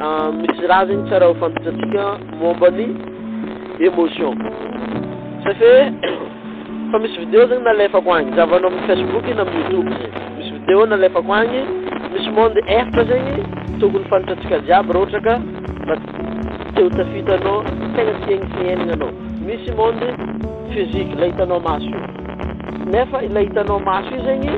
Misy raha zegny tsara hofantatsika momba ny emotion. Ça fait fa misy vidéo zegny nalefako agny, zahavanao amin'ny Facebook na amin'ny YouTube zegny. Misy vidéo nalefako agny, misy monde efatra zegny tokony fantatsika jiaby raha ohatra ka mba te ho tafita anao, tegna tiagny fiaignana anao. Misy monde physique, ilay hitanao maso io. Nefa ilay hitanao maso io zegny,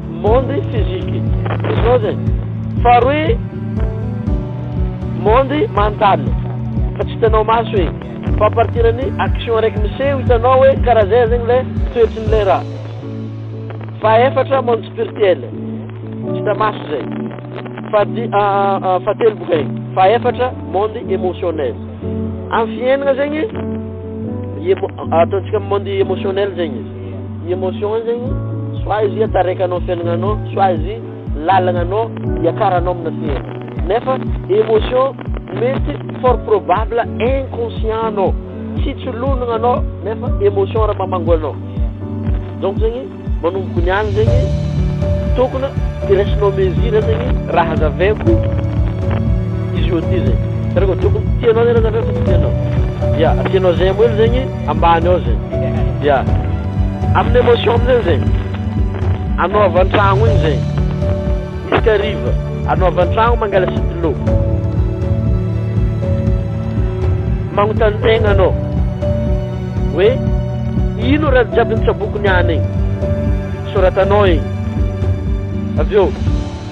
Monde physique izao zany faharoa monde mental fa tsy hitanao maso e fa à partir an'ny action araiky miseho hitanao hoe karaha zay zegny le toetry ny le raha fahefatra monde spirtuel tsy hita maso zay fahadi fahatelo boka e fahefatra monde émotionnel am fiaignana zegny ataontsika am monde émotionnel zegny izy Ny emotion zegny soit izy hiatareka anao fiaignanao soit izy lalagna anao hiakaranao amina fihaignana nefa emotion mety fort probable inconscient anao tsy tsy lonagna anao nefa emotion ra mamango anao donc zegny manomboko niany zegny tokona hiresinao mesure zegny ra hazaveko izy io aty zegny satria ko tokony tianao zegny ra hazaveko sa tsy tianao ya tianao zay amoelo zegny ambany ao zay ya aminy emotion amizay zay anao avy antragno igny zay misy kariva anao avy antragno mangala sitilô magnontany tegna anao hoe ino raha jiaby nitsaboako niany igny soratanao igny avy eo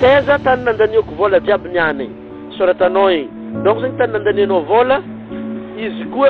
taiza tany nandaniako vôla jiaby niany igny soratanao igny donc zegny tany nandanianao vôla izy koa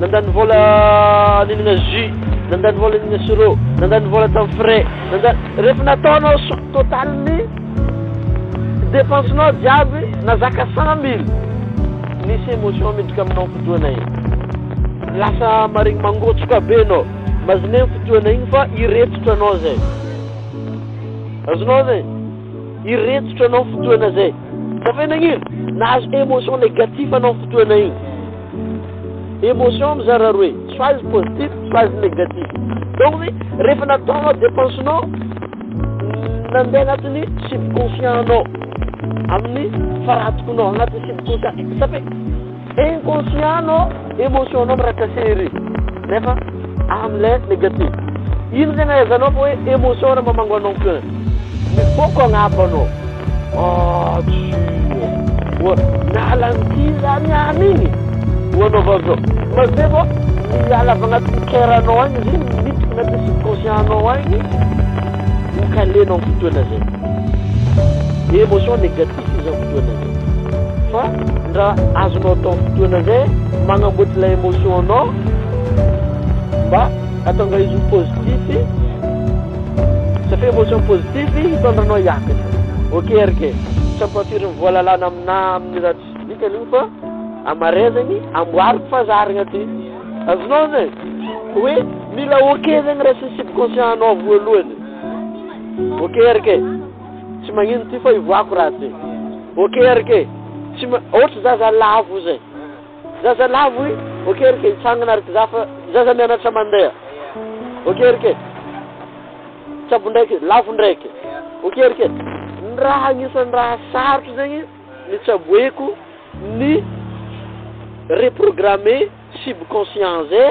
Nandany vola ninagna jus, nandany vola ninagna sirop, nandany vola tamin'ny frais, nandany rehefa nataonao sum total-n'ny dépense-nao jiaby na zaka cent mille, nisy émotion miditra aminao fotoana iny, lasa maregny mangotsoka be anao, mazigna iny fotoana iny fa hiretsotra anao zay, azonao zay? hiretsotra anao fotoana zay, zafy hoe nagnino? nahazo émotion négatif anao fotoana iny. Emotion mizara roe, soit positif, soit negatif. Donc ny rehefa nataonao dépense nao, nandeha anatin'ny subconscient nao, amin'ny faratokonao, anatin'ny subconscient. Satria inconscient nao, emotion nao mirakasery. Nefa Amle negatif. Ino tena ahaizanao fa hoe emotion raha mamango anao que mivoaka agnabo anao. Ah tsia. Oa miala anty zany any igny. Oa anaovao zao. Mazeva oa miala avy agnatin'ny coeur anao agny izy igny miditra agnatin'ny subconscient anao agny. Ho caler anao am fotoana zay. Emotion negatif. Tsisy izao fotoana izao fa ndra azonao atao fotoana zay magnamboatra ilay emotion nao mba atonga izy ho positif satria emotion positif hitondra anao hiakatra ok RK tsy ampafirin'ny voalalana aminà amin'ny raha tsisy dikany io fa amarezagny amboariko fa zarigna ty azonao zay hoe mila ok zegny raha sy ny subconscient anao voalohany ok RK Tsy magnino ty fa ivoako ratsy e. Ok RK, tsy ma, ohatry zaza lavo zay. Zaza lavo i, ok RK, hitsangana ary za fa zaza mianatra mandeha. Ok RK, tsabo ndraiky, lavo ndraiky. Ok RK, ny raha agnisan'ny raha sarotro zegny ny tsaboeko ny reprogrammer subconscient zay.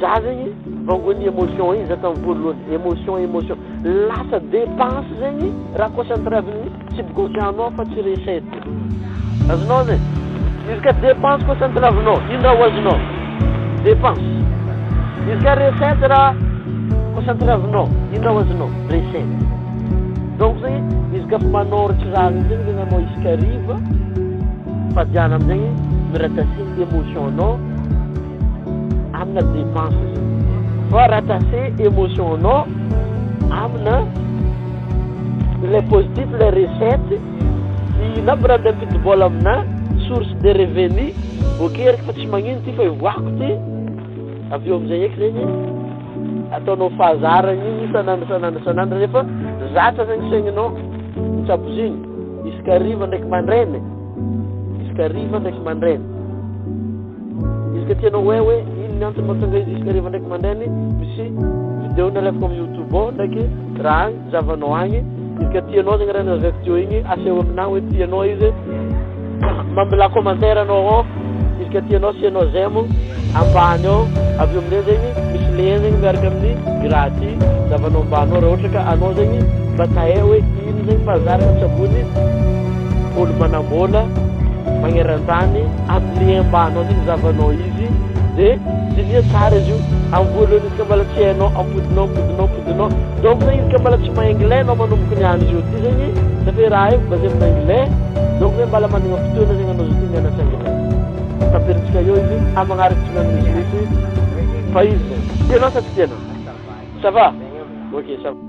Za zegny vangon'ny emotion igny za tam voalohany emotion emotion lasa depense zegny raha concentre amin'ny subconscient anao fa tsy recette azonao zay izy ka depense concentre aminao ino raha ho azonao depense izy ka recette raha concentre aminao ino raha ho azonao recette donc zegny izy ka fa manoratra raha zegny zegny anao izy ka riva fa diana amizegny mirakasiny emotion anao amina dépense zay fa raha tase émotion nao amina ilay positif ilay recette dia na brand ampidi-bola amina source de revenu voakeriko fa tsy magnino ity fa hivoahako ity avy eo amin'izay eky zegny ataonao fahazaragna igny isan'andro isan'andro isan'andro rehefa zatra zegny saigninao mitsabo zigny isaka hariva ndraiky mandraigny isaka hariva ndraiky mandraigny Izy ka tianao hoe hoe inn ny antony mahatonga izy isaka hariva ndraiky mandainy misy video ny alefako am youtube ao ndraiky raha agny zavanao agny izy ka tianao zegny raha nilazako teo igny aseho aminah hoe tianao izy mamela commentaire anao ao izy ka tianao asianao j'aime ambany ao aveo amizay zegny misy lien zegny miaraka aminy i raha ty zavanao ambanao raha ohatra ka anao zegny mba tahay hoe inn zegny fa zah raha tsy ambony Paoly manambola magneran-tany ampilehem-banao zay ny zavanao izy de diniho tsara izy io am voalohany izy ka mbola tsy hainao ampodinao ampodinao ampodinao donc zay izy ka mbola tsy mahay anglais anao manomboka ny andro zao ty zegny ça fait raha io basé amina anglais donc zay mbala managna fotoana zegny anao zao ty mianatra anglais tapirintsika eo izy am magnaraka tsy mahay misimisy fa izy zay tianao sa tsy tianao ça va ok ça va.